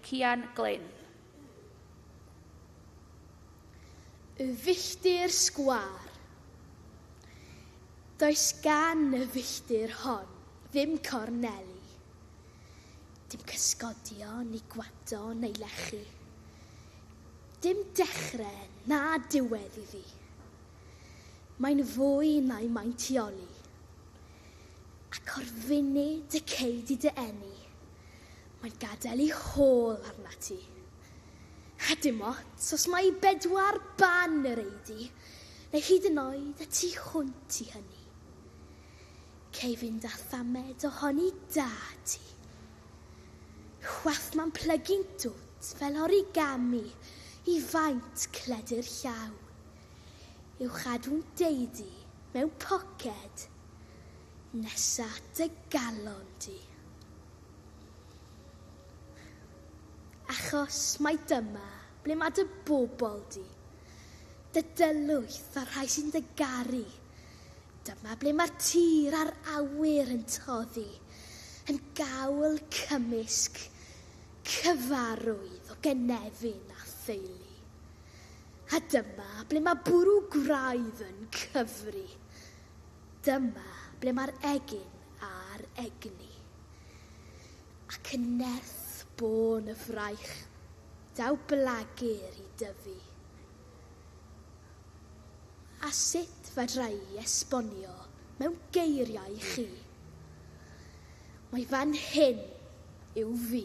Cian Glyn. Y filltir sgwâr. Does gan y filltir hon ddim corneli, dim cysgodion i gwado neu lechu. Dim dechre na diwedd iddi. Mae'n fwy na'i maintioli. Ac o'r funud y cei di dy eni, Mae'n gadael i hôl arnat ti. A dim ots os mai bedwar ban yr eiddi, neu hyd yn oed y tu hwnt i hynny. Cei fynd â thamed ohoni da ti. Chwath mae'n plygu'n dwt fel origami i faint cledyr llaw. I'w chadw'n deidi mewn poced. Nes at dy galon di. Achos mai dyma ble mae dy bobl di, dy dylwyth a'r rhai sy'n dy garu. Dyma ble mae'r tir a'r awyr yn toddi, yn gawl cymysg cyfarwydd o gynefin a theulu. A dyma ble mae bwrw gwraidd yn cyfri. Dyma ble mae'r egin a'r egni, ac yn nerth bôn y fraich, daw blagur i dyfu. A sut fedra i esbonio mewn geiriau i chi? Mae fan hyn yw fi.